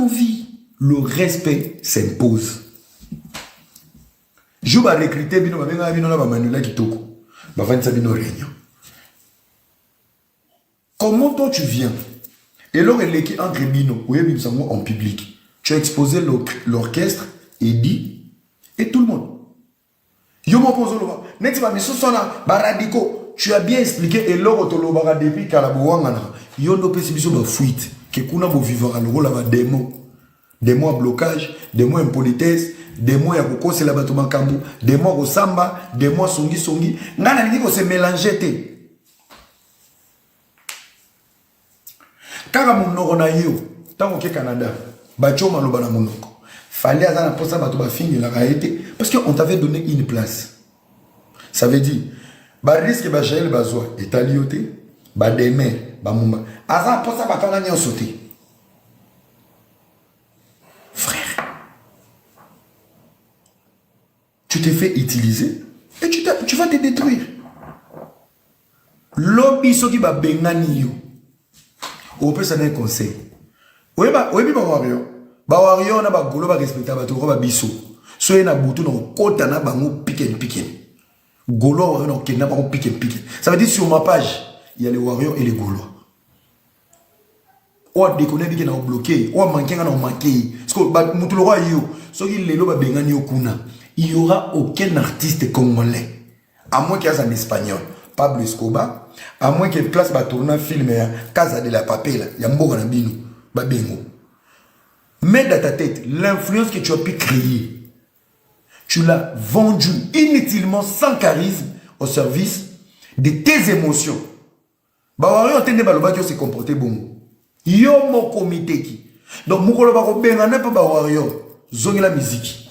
vie, le respect s'impose. Je vais recruter bino babenga bino na ba Manuela Kitoko. Ba vanisa bino réunion. Comment toi tu viens Et l'or est leki entre bino, oui bimisa ngo en public. Tu as exposé l'orchestre et dit et tout le monde. yo moko ozoloba neti ba misusu wana ba radicaux tu as bien expliqué eloko tolobaka depuis kala bowangana yo nde opesi biso ba fuite ke kuna bovivaka lokola ba demon demon ya blocage demon ya impolitesse demon ya kokosela bato makambo demon ya kosamba demon ya songisongi ngai nalingi kose mélange te kaka monoko na yo ntango oke canada batio maloba na monoko fali aza na mposa bato bafingelaka ye te parce que on t'avait donné une place ça veut dire bariske bajael bazwa etali yo te bademer bamumba aza na mposa bato wana nyonso te Tu te fais utiliser et tu, tu vas te détruire. Lobi soki ba bengani yo. Opesa na conseil. Oyeba oyebi ba warrior. Ba warrior na ba golo ba respecta ba toko ba biso. So na butu na kota na bango pick and pick. Golo warrior na kenda bango pick and pick. Ça veut dire sur ma page, il y a les warriors et les golois. oyo adekone abike na obloke oyo amanke nga na omanke ye sikoyo motu lokola yo soki lelo babengani yo kuna il y aura aucun artiste congolais à moins que aza na espagnol pablo escoba à moins que place batourna film ya casa de la papela ya mboka na bino babengo mais dans ta tête l'influence que tu as pu créer tu l'as vendu inutilement sans charisme au service de tes émotions Ba warrior te nde balobaki ose comporter bongo. Yo moko miteki. Donc mokolo bakobengana mpe ba warrior zongela miziki.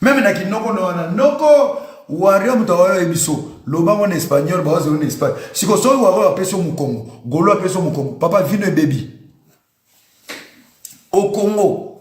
Meme na kinoko na wana noko warrior moto awayo biso loba ngo na espagnol bawazo na espagne. Siko soki warrior apesi yo mokongo, golo apesi yo mokongo, papa vino ebebi. Au Congo,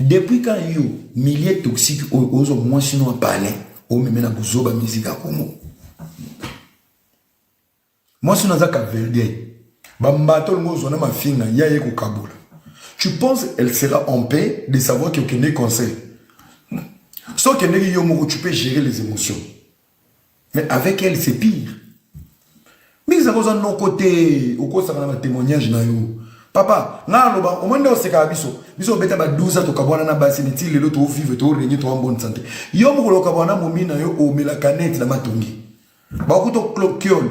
Depuis quand yo milieu toxique oyo ozo mwasi no palais o meme na buzoba musique ya Congo. Mwasi no aza Capverdien. Ba mbato longo zona mafinga ya ye kokabola. Tu penses elle sera en paix de savoir que okende conseil? Soki okendeki yo moko tu peux gérer les émotions. Mais avec elle, c'est pire. Mix à cause de nos côtés, au cours de témoignage, Papa, na loba, au moins de ce cas, biso, biso beta ba 12 ans, tokabwana na basi, niti lelo to vivre, to régner, to en bonne santé. Yo mukolo kabwana momina yo o mela canette na matongi. Ba kuto cloquiole.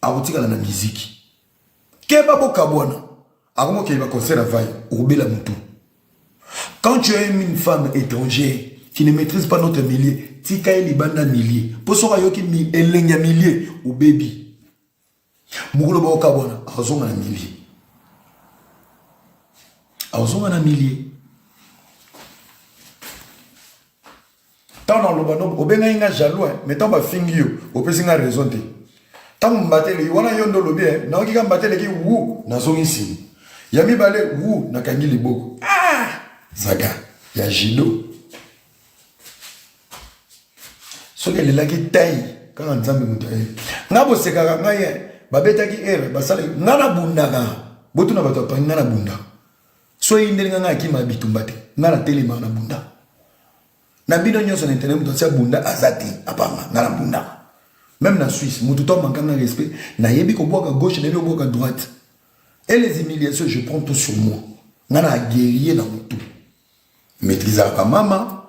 akotikala na miziki keba bokabwana akomokende ba concert ya vai okobela motu quand tu as une femme étrangère qui ne maîtrise pas notre milieu tika ye libanda milieu mpo soki ayoki elengi ya milieu obebi mokolo baokabwana akozonga na milieu akozonga na milieu ntango naloba no obengaki nga jaloux eh, mais ntango bafingi yo opesi nga raison te ntango mbateleki wana yo nde olobi eh, nayoki ka mbateleki wu nazongi nsima ya mibale wu nakangi liboko ah! zaga ya jido soki elelaki tai kaka nzambe moto aye nga bosekaka ngai eh, babetaki ere basalaki nga nabundaka botuna bato bapangi nga nabundaka soki eyindeli nga ngai akima bitumba te ngai natelema na bunda na bino nyonso na internet moto atia bunda aza te apanga ngai na bunda meme na suisse moto to amanka ngai respect nayebi kobwaka gauche nayebi kobwaka droite et les humiliations je prends tout sur moi ngai na guerrier na motu maîtrisaka bamama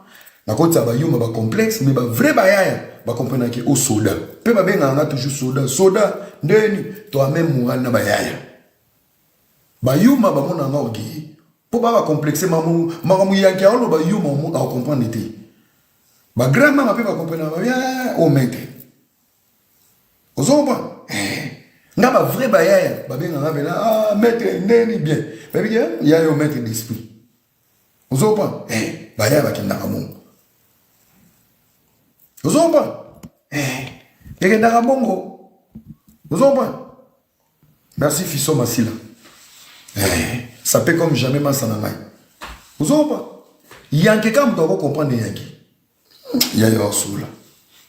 nakotisa bayuma bacomplexe mais bavrai bayaya bacomprenake o soda mpe babengaka ngai toujours soda soda ndeni to ameme moral na bayaya Ba yuma ba mona nga oge po ba ba complexe mamu mamu yanki aolo ba yuma omu au comprendre te ba grand mama pe ba comprendre ba ya o mete ozomba nga ba vrai ba ya ba benga nga bela ah mete neni bien ba bi ya ya yo mete d'esprit ozomba eh ba ya ba kinda ka mungu ozomba eh ya kinda ka mungu ozomba Merci Fisson Masila. Eh, ça peut comme jamais masa na ngai. Ozoba. Yanke kama moto ako comprendre yanke. Ya yo asula.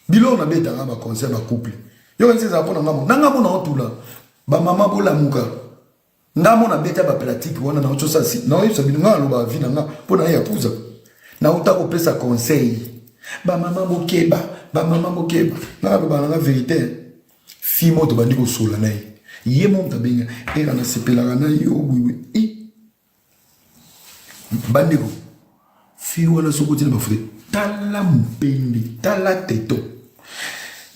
Bilo na beta nga ba concert ba couple. Yo kanisa za pona ngamo. Na ngamo na otula. Ba mama bola muka. Ngamo na beta ba pratique wana na ochosa si. Na oyisa bino nga loba vie na nga pona ya kuza. Na uta ko pesa conseil. Ba mama bokeba, ba mama bokeba. Na loba na nga verite. Fille moko tobandi kosola na ye ye moko abenga era nasepelaka na yo wiwi i bandeko fille wana soki otina bafute tala mopende tala teto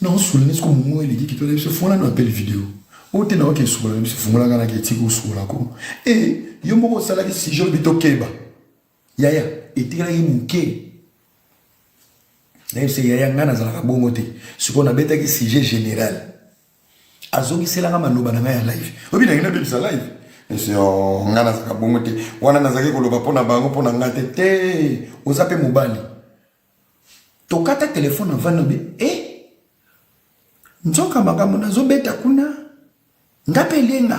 naosolene soko mongo eleki kitoko na biso fongola na appel video oyo te naoki esukola na biso fongolaka na ketiki osukolako e yo moko osalaki sijo lobi tokeba yaya etikalaki moke nayebisa yaya ngai nazalaka bongo te sikoyo nabetaki sujet général azongiselanga maloba na ngai ya live oyebi nangi nabebisa live oh, ngai nazalaka bongo te wana nazalaki koloba mpo na bango mpo na ngai te te oza mpe mobali tokata telefone avandi obe e eh, nzoka makambo nazobeta kuna nga mpe elenga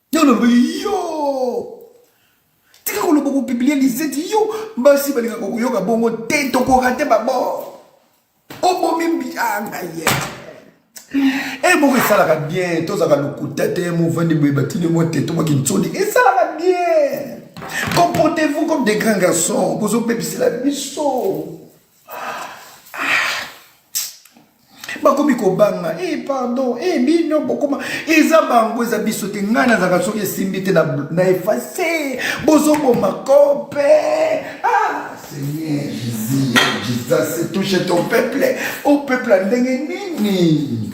Yo na yo tika koloba kopibliye liseti yo basi balingaka koyoka bongo te tokoka te babor obomi mbianga ah, ye e moko esalaka bien tozalaka lokuta te movandi boye batini mwa te tomaki nsoni esalaka bien comportez-vous comme des grands garçons bozobebisela biso bakomi kobanga e eh, pardon e bino bokoma eza bango eza biso te ngai nazalaka soki esimbi te na efase bozoboma kope ah seigneur jesus jesus touche ton peuple o oh, peuple ya ndenge nini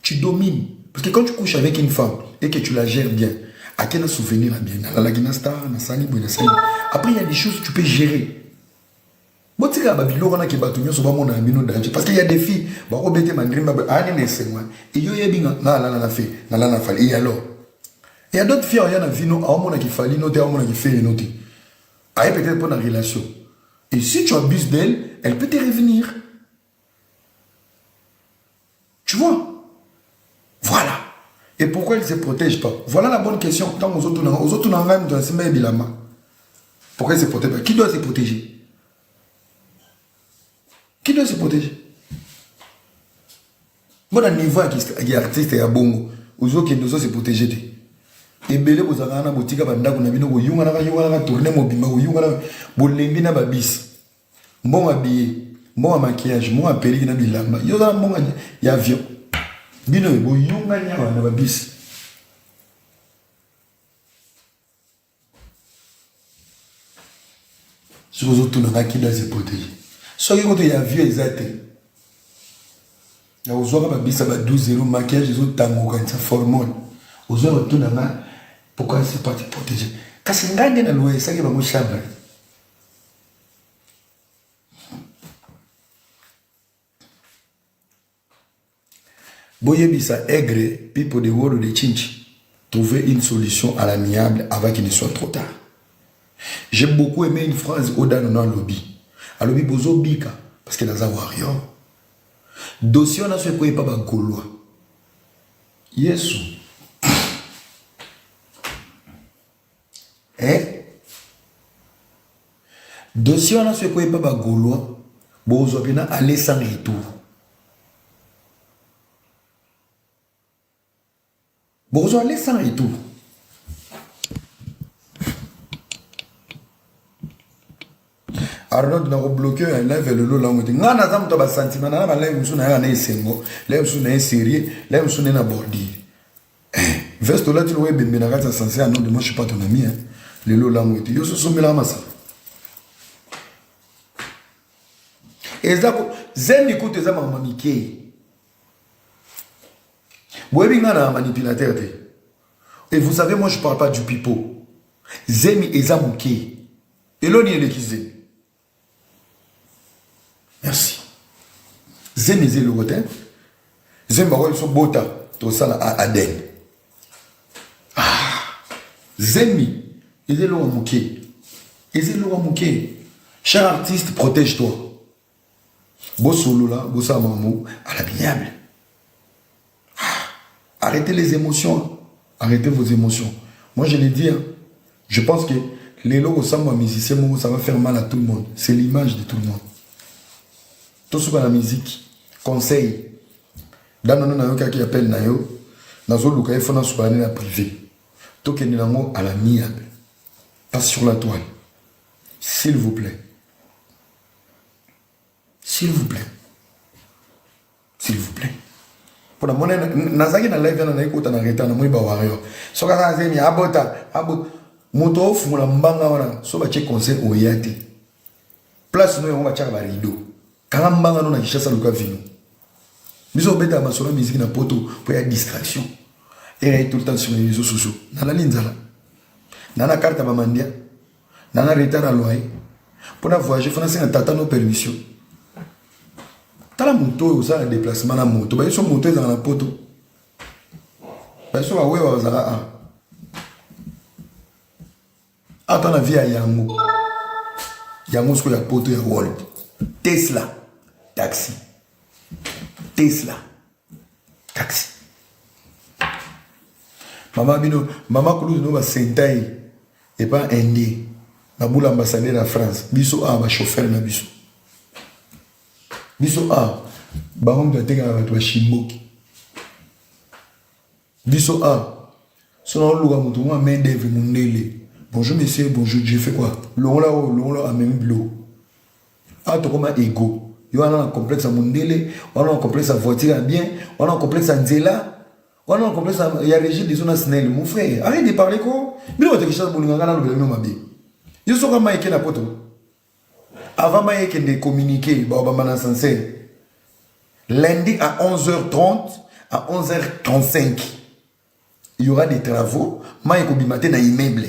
tu domines parce que quand tu couches avec une femme et que tu la gères bien ake na souvenir ya bien nalalaki na star nasali boye nasali après il y a des choses tu peux gérer botikala babiloko wana ke bato nyonso bamonaka bino danger parce que ya defi bakobete mandrimba boye ani na esengo wana eyo oyebi nga nga alala na fe nalala na fali e alors e ya d'autres fier ya na vino aomona ki fali no te aomona ki fere no te aye peut-être mpo na relation et si tu abuses d'elle elle peut te revenir Tu vois Voilà. Et pourquoi il ne se protège pas Voilà la bonne question. Tant aux autres, aux autres, on a même dans ces mêmes bilama. Pourquoi il ne se protège pas Qui doit se protéger Qui doit se protéger Bon, à niveau qui artiste et à bongo, aux autres qui doivent se protéger. ebele bozalaka na botika bandako na bino koyunganaka yunganaka tourne mobimba koyunganaka bolembi na babisi mbongo ya biye mbongo ya maquillage mbongo ya peliki na bilamba yo oza na mbongo ya avion bino boyungani awa na babisi soki ozotuna nga kida ze protege soki koto ya avion eza te na ozwaka babisa ba 12 euro maquillage ezotangoka nsa formone ozwa batuna nga pourquoi se pas protege kasi ngai nde nalwesaki bango chambre boyebisa aigre people de wolo de chinchi trouver une solution à l'amiable avant qu'il ne soit trop tard j'ai beaucoup aimé une phrase odano na alobi alobi bozobika parce que naza warrior dossier wana so ekoyi epa bagolois yesu eh? dossier wana so ekwei epa bagaulois bokozwa mpena aller sans retour bokozwa aller sans retour Arnold na ko bloquer yo ya live lelo lango te nga naza moto ya basantima na na balive mosusu na yaka na esengo live mosusu na ye sérieux live mosusu na ye na bordure eh, veste olati lokola ebembe na kati ya sanse ya nonde moi je suis pas ton ami hein. lelo lango ete yo sosombelaka masala eza zemi kutu eza makambo mikei boyebi ngai na manipulateur te et vous savez moi je parle pas du pipo zemi eza mokei Eloni eleki zemi. Merci. Zemi eza eloko te. Zemi bakoki biso bota tosala Aden. Ah, zemi eza eloko moke. Eza eloko moke. Cher artiste, protège-toi. bosolola bosala makambo à l'amiable ah, arrêtez les émotions arrêtez vos émotions moi je l'ai dit hein, je pense que lelo kosamba musicien moko ça va faire mal à tout le monde c'est l'image de tout le monde tosuka na musique conseil danono nayokaki appel na yo nazoluka ye fo nasuka ne na privé tokende nango à l'amiable pas sur la toile s'il vous plaît s'il vous plaît s'il vous plaît mpo na mona nazalaki na live wana naye kota na retard namoni ba warrior soki aza na zemi abota abota moto ofungola mbanga wana so batye conseil oya te place no yango batyaka barido kanga mbanga no na kinshasa luka vino biso obetaka masolo ya miziki na poto mpo ya distraction erai tout le temps nsima ya réseau sociaux nalali nzala na na karte ya bamandia nanga retard ya loyer mpo na voyage fo nasenga tata no permission tala moto oyo osala déplacement na moto bayeso moto ezala na poto bayeso bawewa bazala a ata na vie ya yango yango sikoyo ya poto ya world tesla taxi tesla taxi mama bino mama kulutu no basentai epa indien na bula ambassadeur ya france biso awa bachauffeur na biso biso awa bango moto atekaka bato bashimboki biso awa so naoluka moto mwa main d'œuvre mondele bonjour monsieur bonjour je fais quoi longola oyo longola amemi biloko awa tokoma ego yo wana na complexe ya mondele wana na complexe ya voiture ya bien wana na complexe ya nzela wana na complexe ya régime biso na snel mon frère arrête de parler ko bino bato kishasa bolinga ngai nalobela bino mabe yo soka mai eke na poto avant mai ekende communiqué baobamba na sancer lundi à 11h30 à 11h35 il y aura des travaux mai ekobima te na immeuble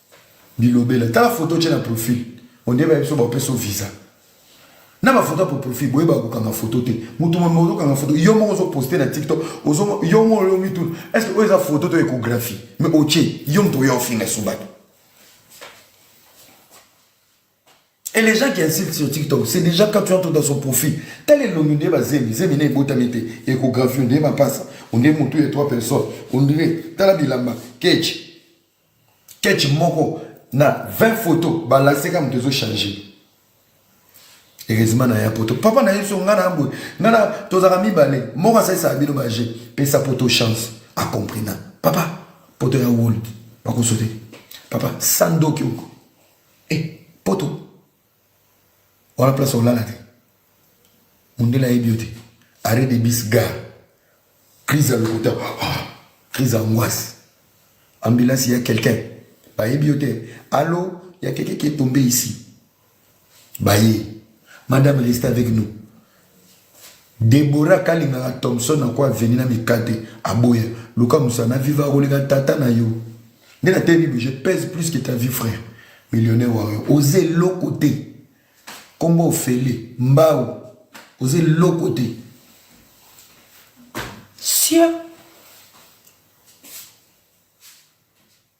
Bilobela. Tala photo tche na profil. On dirait biso ba peso visa. Na ba photo pour profil boye ba ko kanga photo te. Mutu mo mozo kanga photo. Yo moko ozo poster na TikTok. Ozo yo moko yo mitu. Est-ce que oza photo to échographie? Mais oche yo mtu yo finga subatu. Et les gens qui insultent sur TikTok, c'est déjà quand tu entres dans son profil. Tel est l'homme de Zemi, Zemi n'est pas tamité, échographie, on n'est pas ça. On est monté trois personnes. On dirait, Talabilamba, Ketch, ketch moko na 20 photo balakisi kaka moto ezochange heureusement na ya poto papa na yesu ngai na boye ngai na tozalaka mibale moko asalisaka bino baje pesa poto chance acomprina papa poto ya world bakosote papa sandoki oko e eh, poto wana place olala te mundele ayebi yo te arrêt de bis gare crise ya lokuta ah, crise ya ngwasi ambulance ya quelqu'un bayebi yo te alo ya quelqu'un qui est tombé ici baye madame reste avec nous Deborah kalingaka Thompson na ko avenue na mikate aboya luka musala na viva koleka tata na yo nde na tebi bo je pèse plus que ta vie frère millionnaire warrior oza eloko te kombo ofele mbao oza eloko te sia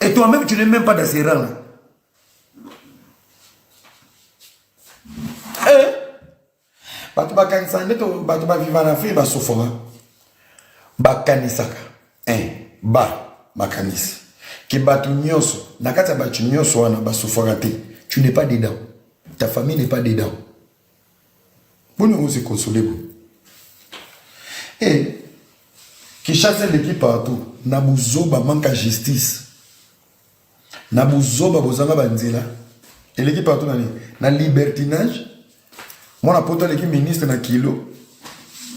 Et toi-même, tu n'es même pas dans ces rangs-là. Eh? bato bakanisaka nde bato baviva na afrike basofaka bakanisaka eh, ba makanisi ke bato nyonso na kati ya bato nyonso wana basofaka te tu n'es pas dedans ta famille n'est pas dedans Boni ozi console boye? Eh, Kinshasa eleki partout na buzoba, manque à justice, na buzoba, bozanga banzela eleki partout na nini? Na libertinage. Mwana poto aleki ministre na kilo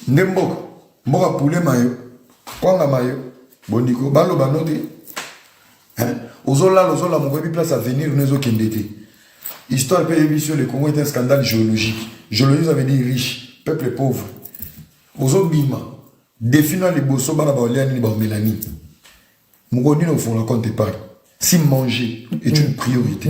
nde mboka mboka pule mayo kwanga mayo bondiko baloba no te Hein? Ozolala, ozolamuka, oyebi place avenir no ezokende te. Histoire mpe eyebi biso, le Congo est un scandale géologique. Géologie, ça veut dire riche, peuple pauvre. Ozobima, défi na liboso, bana baolia nini, baomela nini. Mokolo nini ofongola compte épargne? Si manger est une priorité.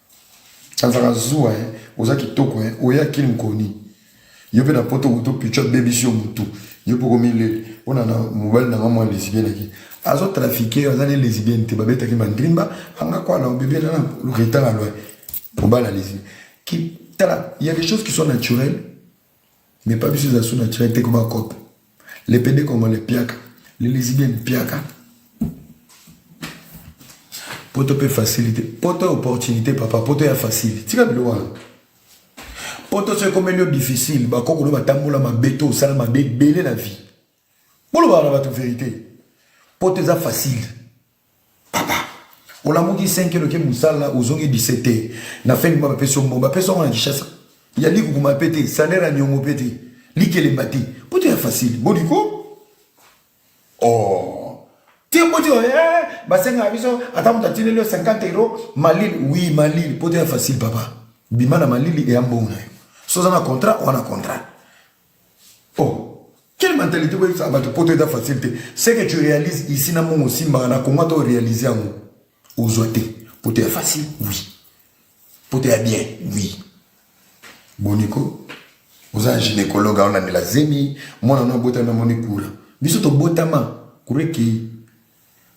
azaka zuwa eh. oza kitoko eh. oya kili mkoni yo mpe na poto kutu pichu abebisi yo motu yo mpe okomileli mpona na mobali nanga mwa lesbienne ake azotrafike yo aza ne lesbienne te babetaki mandrimba anga kwana obebele na retanga lwa mobali ya lesbienne tala ya des choses qui sont naturelles Mais pas biso zasu na chira te ko ba cop. Les pede congolais piaka, les lesbiennes piaka. Poto pe facilité. Poto opportunité papa, poto ya facile. Tika bilo wana. Poto soki ekomeli yo difficile, bakoko no batambola mabe to osala mabe ebele na vie. Bolo ba na bato verité. Poto eza facile. papa olamuki 5 kilo ke musala ozongi 17 te na fin du mois bapesi yo mbongo bapesi yango na kishasa ya likukuma mpe te salaire ya niongo mpe te likelemba te mpo te ya facile boliko oh te mpo te eh, basengaka biso ata moto atineli yo 50 euro malili wi malili mpo te ya facile papa bima na malili eya mbongo na yo soza na contrat wana contrat oh quelle mentalité boye ça bato poto eza facile te ce que tu réalises ici na mongo osimbaka na kongo ata oréalise yango ozwa te poto ya facile oui poto ya bien oui boniko oza gynécologue aona ndela zemi mwana na obotami amoni kura biso tobotama kura ekei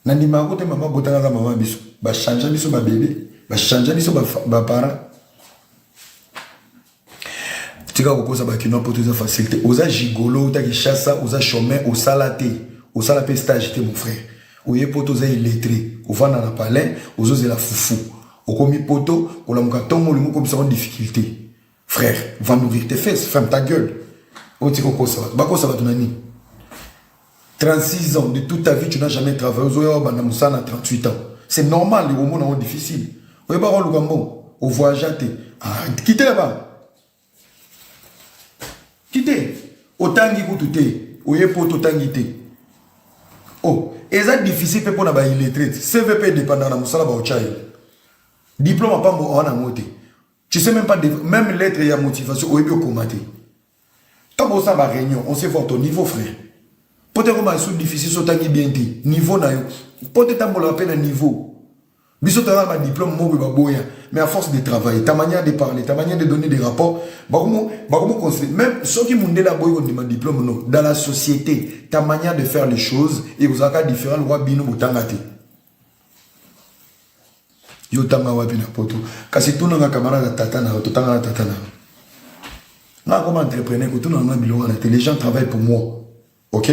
Na ndimaka kote mama abotaka aza mama biso. Ba changea biso ba bebe, ba changea biso ba, ba parents. Tika kokosa ba kinois poto eza facile te. Oza gigolo, uta Kinshasa, oza chômeur, osala te. Osala pe stage te mon frère. Oye poto oza illettré, ovanda na palais, ozozela fufu. Okomi poto, olamuka tongo olingi okomisa ngo difficulté. Frère, va nourrir tes fesses, ferme ta gueule. Oti oh, kokosa bato, bakosa bato na nini 36 ans de toute ta vie tu n'as jamais travaillé ozoya obanda mosala na 38 ans c'est normal les omona yango difficile oyebaka oluka mbongo ovoyagea te ah, kite laba kite otangi kutu te oye poto otangi te o oh, eza difficile mpe mpo na baillettrete cvp edependaka na mosala baotya ye diplome apambo awa na yango te Tu sais même pas, de, même lettre ya motivation, oyebi okoma te. Tant osa ba réunion, on sait voir ton niveau, frère. Peut être comme sous difficile, so tangi bien dit, niveau na yo. Peut être tambo la peine niveau. Biso tala ba diplôme mo ba boya, mais à force de travailler, ta manière de parler, ta manière de donner des rapports, ba komo ba komo conseiller. Même ceux qui mundé la boyo de ma diplôme non, dans la société, ta manière de faire les choses et vous avez différent loi bino botangate. yo tanga wapi na poto kasi tunanga camarade ya tata na yo totanga na tata na yo nga akoma entrepreneur kotuna nga biloko wana te les gens travaillent pour moi ok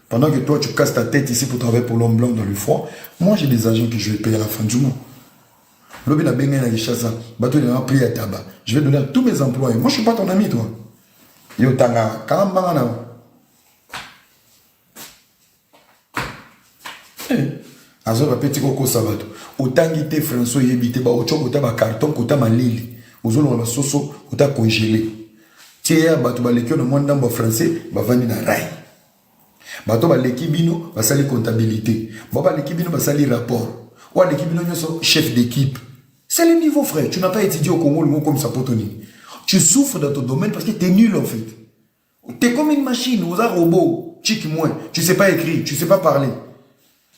pendant que toi tu casses ta tête ici pour travailler pour l'homme blanc dans le froid moi j'ai des agents que je vais payer à la fin du mois lobi na bengai na Kinshasa bato na prix ya tabac je vais donner à tous mes employés moi je suis pas ton ami toi yo tanga kala mbanga na yo azo bapeti kokosa bato otangi te français oyebi te baotyo kota bacarton kota malili ozolonga basoso kota congele tieya bato baleki yo na mwa ndambo ya français bavandi na rai bato baleki bino basali comptabilité ba baleki bino basali rapport oyo aleki bino nyonso chef d'équipe c'est le niveau frère tu n'as pas étudié au congo olingo okomisa poto nini tu souffres dans ton domaine parce que t'es nul en fait T'es comme une machine, oza robot, chic moi, tu sais pas écrire, tu sais pas parler.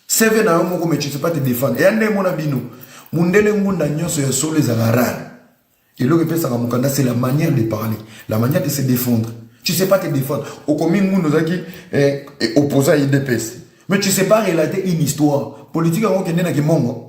CV na yo moko mais tu sais pas te défendre. Et ande mona bino, mundele ngunda nyonso ya solo ezala rare. Eloko epesaka mokanda c'est la manière de parler, la manière de se défendre. Tu sais pas te défendre. Okomi ngunda ozaki eh, eh, opposant à IDPS. Mais tu sais pas relater une histoire. Politique yango kende na kimongo.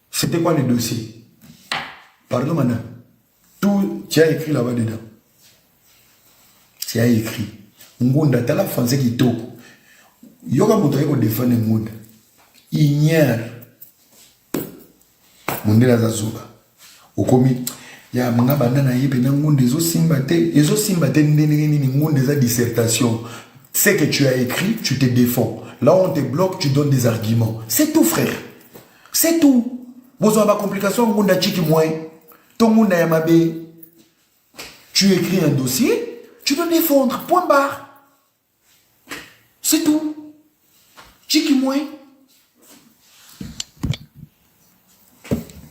C'était quoi le dossier Pardon, madame. Tout, tu as écrit là-bas dedans. Tu as écrit. Ngunda, t'as la français qui toque. Yoga Moutoye ko défendre Ngunda. Ignère. Mundela Zazuba. Okomi. ya nga banda na ye mpena ngunde ezosimba te ezosimba te ndenge nini ngunde eza dissertation ce que tu as écrit tu te défends là on te bloque tu donnes des arguments c'est tout frère c'est tout bozwa ba complication ngunda chiki moyen to ngunda ya mabe tu écris un dossier tu dois défendre point barre c'est tout chiki moyen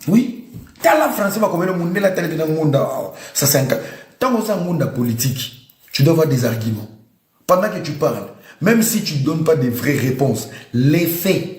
oui tala français bakomeli mundela talete na ngunda awa ça c'est un ntango oza ngunda politique tu dois avoir des arguments pendant que tu parles même si tu ne donnes pas des vraies réponses les faits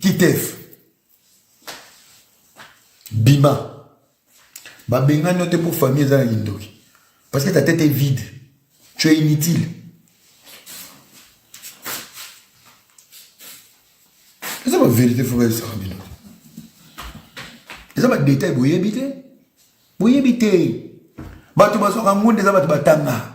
kitef bima babengani yo te mpo famille eza na kindoki parce que ta tete est vide tu es inutile eza baverité fo bayesaka bino eza badetail boyebi te boyebi te bato bazwaka ngonde eza bato batanga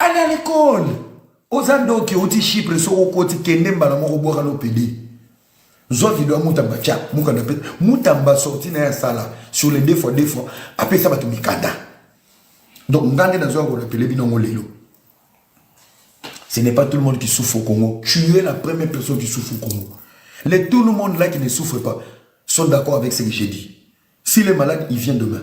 Allez à l'école. Oza ndoki oti Chypre soko okoti kende mbala moko bwaka lopede. Zwa video ya Mutamba tia mukanda pe Mutamba sorti na ya sala sur les deux fois deux fois apesa bato mikanda. Donc ngande na zwa ko rappeler bino ngo lelo. Ce n'est pas tout le monde qui souffre au Congo. Tu es la première personne qui souffre au Congo. Les tout le monde là qui ne souffre pas sont d'accord avec ce que j'ai dit. S'il est malade, il vient demain.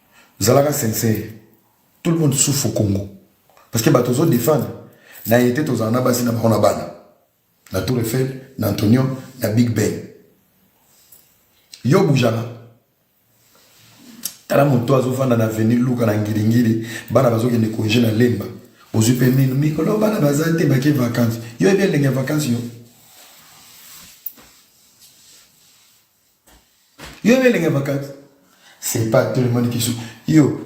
zalaka sincère tout le monde souffre au Congo parce que bato ozo défendre na été tozala na basi na bango na bana na Tour Eiffel na Antonio na Big Ben yo bujana tala moto azofanda na avenue luka na ngilingili bana bazokende konge na lemba ozwi mpe mino mikolo bana baza te bake vacances yo ebi elenge ya vacances yo yo na elenge bakati c'est pas tout le monde qui souffre yo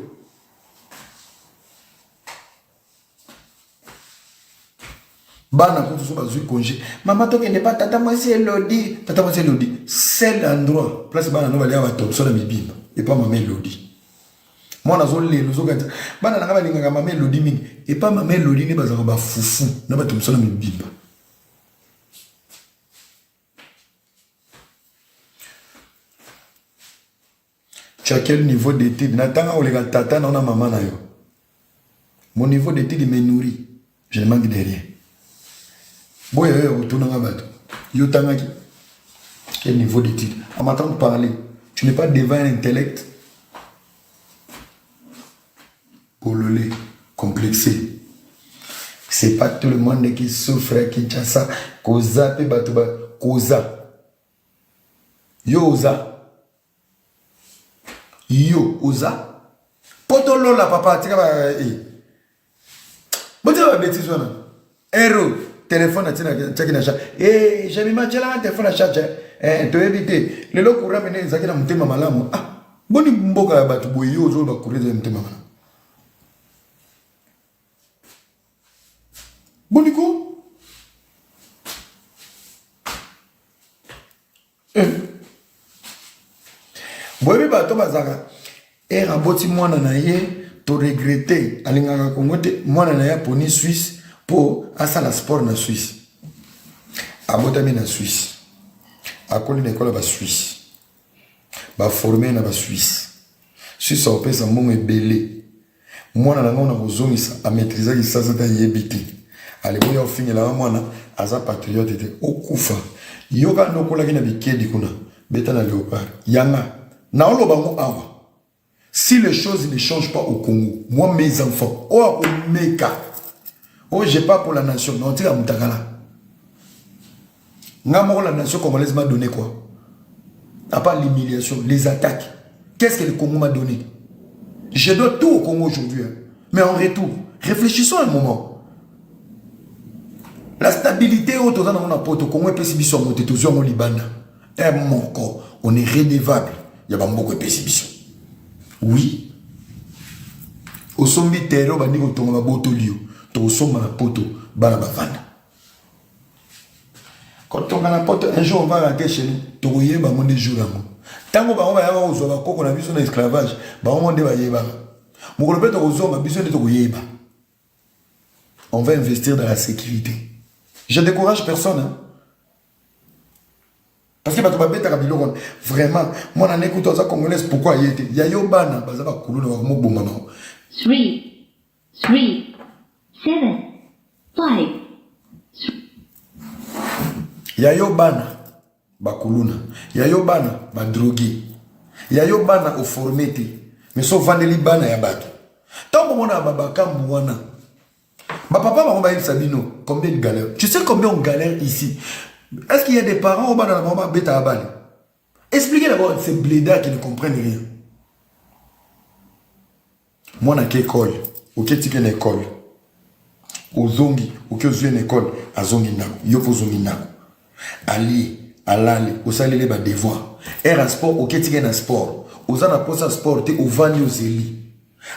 bana kutu so bazwi congé mama tokende pa tata mwasi elodi tata mwasi elodi seul endroit place bana no balia batopso na mibimba epa mama elodi mwana azolela ozokati bana na ngai balingaka mama elodi mingi epa mama elodi nde bazalaka bafufu na batopso na mibimba tu as quel niveau d'étude natanga koleka tata na ona mama na yo mon niveau d'étude me nourrit je ne manque de rien boya yo ya kotunanga bato yo otangaki quel niveau d'étude en m'attend de parler tu n'es pas devant un intellect Bolole complexe. C'est pas tout le monde qui souffre à Kinshasa. Koza pe bato ba koza. Yo oza. Yo oza. Poto lola papa tika ba eh. Botika ba bêtises wana. Ero, telefone atiaki na charge. Eh, Jamima, tielanga telefone na charge. Eh, toyebi te. Lelo courant mene ezalaki na motema malamu. Ah, boni mboka ya bato boye yo ozoloba courant ezali motema malamu. Boni ko? boyebi bato bazalaka ere aboti mwana na ye toregrete alingaka kongo te mwana na ye aponi swisse mpo asala sport na swisse abotami na swisse akoli na ekolo ya baswisse baforme na baswisse swisse akopesa mbongo ebele Mwana na ngai na kozongisa a maîtriser kisasa ta yebi te. Aleboya ofingela nga mwana aza patriote te. Okufa. Yoka nokolaki na bikedi kuna. Beta na leopard. Yanga. Na oloba ngo awa. Si les choses ne changent pas au Congo, moi mes enfants, oyo akomeka oyo je pas pour la nation mais otika mutakala nga moko la nation congolaise m'a donné quoi à part l'humiliation les attaques qu'est-ce que le Congo m'a donné je dois tout au Congo aujourd'hui hein. mais en retour réfléchissons un moment la stabilité oyo toza nango na poto kongo epesi biso yango te tozwi yango libanda Heure moko on est redevable ya ba mboko epesi biso. Oui. Osombi terrain obandi kotonga ba botoli yo. Tokosomba na poto bana bavanda. Kotonga na poto un jour on va rentrer chez nous. Tokoyeba ngo nde jour yango. Tango bango bayaka kozwa bakoko na biso na esclavage, bango nde bayebaka. Mokolo mpe tokozonga biso nde tokoyeba. On va investir dans la sécurité. Je décourage personne. Hein? Parce que bato babetaka biloko wana vraiment mwana ne kutu aza congolaise pourquoi aye te ya yo bana baza bakulu na bango moboma na bango 3 3 7 5 ya yo bana bakuluna ya yo bana badroge ya yo bana oforme te mais so ovandeli bana ya bato ntango omonaka babakambu wana Ba papa bango bayebisa bino combien de galère. Tu sais combien on galère ici? Est-ce qu'il y a des parents au bana na bango babeta ya bana? Expliquez d'abord ces blédards qui ne comprennent rien. Mwana ke école, oke tike na école. Ozongi, oke ozwi na école, azongi ndako, yo mpe ozongi ndako. alie alali osaleli ba devoir air ya sport oketike na sport oza na mposa sport te ovandi ozeli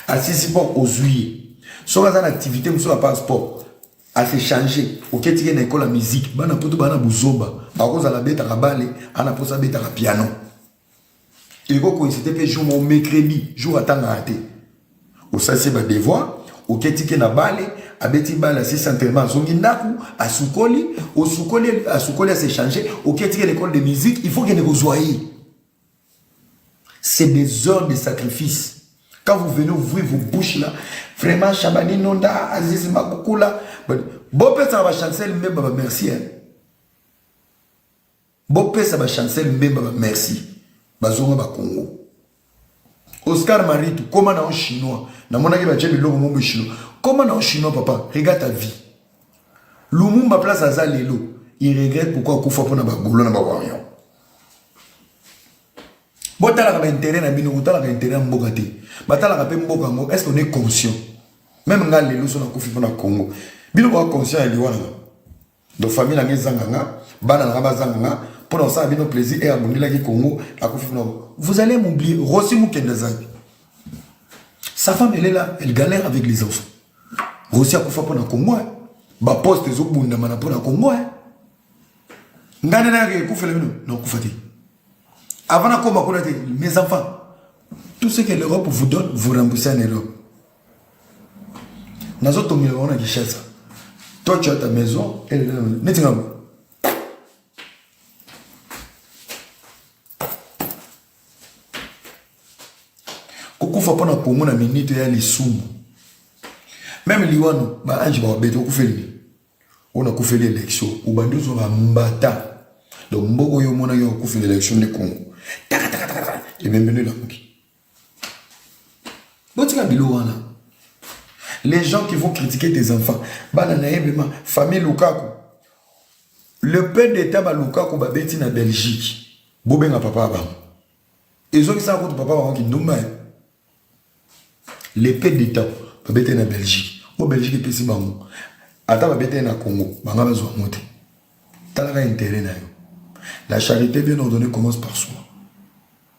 asisi mpo ozwi ye soki aza na activité mosusu apart sport ase change oketike na ekolo ya musique bana poto bana buzoba bakozala abetaka bale ana mposa abetaka piano eko coïncide mpe jour moko mercredi jour atangaka te osalisi badevoir oketike na bale abeti bale asisi entraînement azongi ndako asukoli osukoli asukoli asechange oketike na école de musique il faut kende kozwa ye c'est des heures de sacrifice quand vous venez ouvrir vos bouches là vraiment shabani nonda azizi makukula bopesaka bachancel mbemba bamercier Bopesa ba Chancel Mbemba ba merci bazonga ba Congo. Oscar Maritu koma na chinois namonaki batie biloko mobo chinois koma na chinois papa regarde ta vie Lumumba place aza lelo il regrette pourquoi akufa mpona bagolo na bawarion botalaka bainteret na bino kotalaka interet ya mboka te batalaka mpe mboka yango est ce qu'on est conscient meme ngai lelo so nakufi mpona congo bino boa conscient ya liwa nanga donc famille na nga ezanga nga bana na nga bazanga nga mpo na kosala bino plaisir eye abundelaki congo akufi kuna vous allez m'oublier rosi mokende azali sa femme elle est là elle galère avec les enfants rosi akufa mpo na congo eh. baposte ezobundama na mpo na congo eh. ngai nde nayaka ekufela bino nakufa te avant nakoma kuna te mes enfants tout ce que l'europe vous donne vous remboursez en europe nazo tongela bango na Kinshasa toi tu as ta maison elle est là neti nga kokufa mpo na komona minite ya lisumu meme liwano baange bakobete okufeli nini oyo nakufeli election obandi ozwa bambata donc mboko oyo omonaki okufeli election nde kongo takatakatakata ebembeni elamuki botika bilo wana les gens qui vont critiquer tes enfants bana na ye bema famille lukaku le père d'état ba lukaku babeti na belgique bobenga papa ya bango ezokisaka kutu papa bango kindumba eh. le père d'état babeti na belgique o belgique epesi bango ata babeti na congo banga bazwa yango te talaka intérêt na yo la charité bien ordonnée commence par soi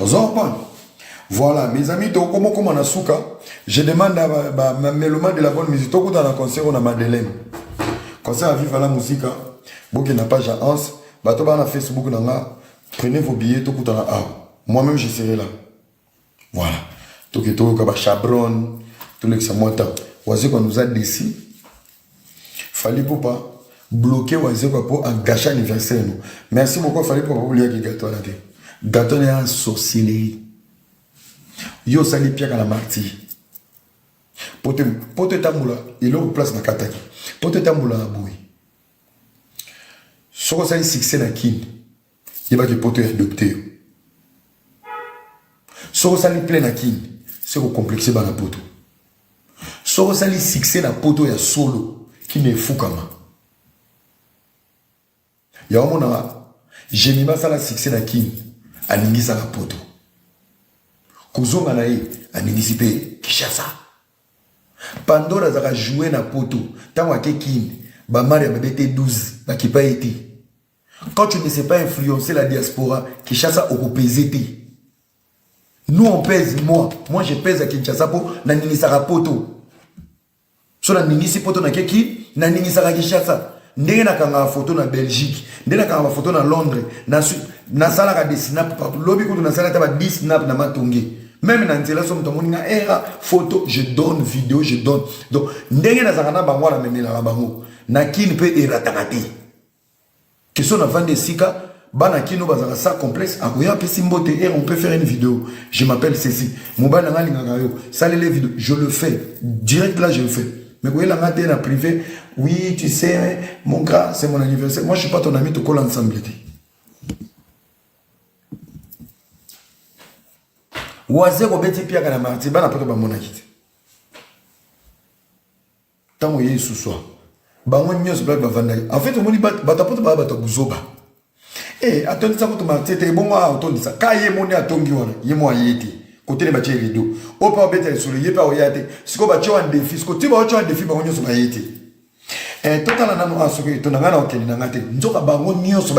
ozo comprendre voilà mes amis tokokoma okoma na suka je demande à ba, ba meloma de la bonne musique tokutana na concert oyo na madeleine concert ya viva la musica bokenda page ya anse bato baa na facebook na nga prenez vos billets tokutana awa moi-même je serai là Voilà. Toke toyoka ba chabron, tolekisa mwa ntango. Wazekwa nous a déçu. Fally Ipupa bloqué Wazekwa mpo agache anniversaire no. Merci beaucoup Fally Ipupa mpo oliaki gato wana te. Gato wana ya sorcellerie. Yo osali piaka na martyr. Poto poto etambola eloko place na kataki. Poto etambola na boye. Soko osali succès na Kin. Yeba ke poto ya adopte yo. Soki osali plein na kin, se ko complexe bana poto. Soki osali succès na poto ya solo, kin efukama. Ya omona Jemi basala succès na kin, aningisaka poto. Kozonga na ye, aningisi mpe Kinshasa. Pandora azaka joue na poto, ntango ake kin, bamari ya bebe te 12, bakipa ye te. Quand tu ne sais pas influencer la diaspora, Kinshasa okopese te. Nous on pèse moi, moi je pèse à Kinshasa po na ningisaka poto. So na ningisi poto na keki, na ningisaka Kinshasa. Ndenge na kanga photo na Belgique, ndenge na kanga photo na Londres, na na sala ka des snap partout. Lobi kutu na sala ta ba 10 snap na matonge. Même na nzela so moto amoni nga era eh, photo, je donne vidéo, je donne. Donc ndenge na zaka na bango na memela bango. Na kin pe erataka te. Question na vandi esika bana kino bazaka sa complexe akoya apesi mbote et on peut faire une vidéo je m'appelle ceci mobali nanga alingaka yo salele vidéo je le fais direct là je le fais mais koyela nga te na privé oui tu sais hein, mon gars c'est mon anniversaire moi je suis pas ton ami tokola ensemble te waze kobeti piaka na marti bana poto bamonaki te Tango ye suswa. Bango nyonso ba bavandaki. En fait omoni bato apoto ba bato buzoba. Eh atondisa kutu martie te ebongo a otondisa ka ye moni atongi wana ye mo aye te kotele batie rideau oyo mpe obeta lisolo ye mpe aoya te sikoyo batye wana defi sikoyo ntina baotye wana defi bango nyonso baye te eh, totala nano a ah, soki etonda ngai na okende na ngai te nzoka bango nyonso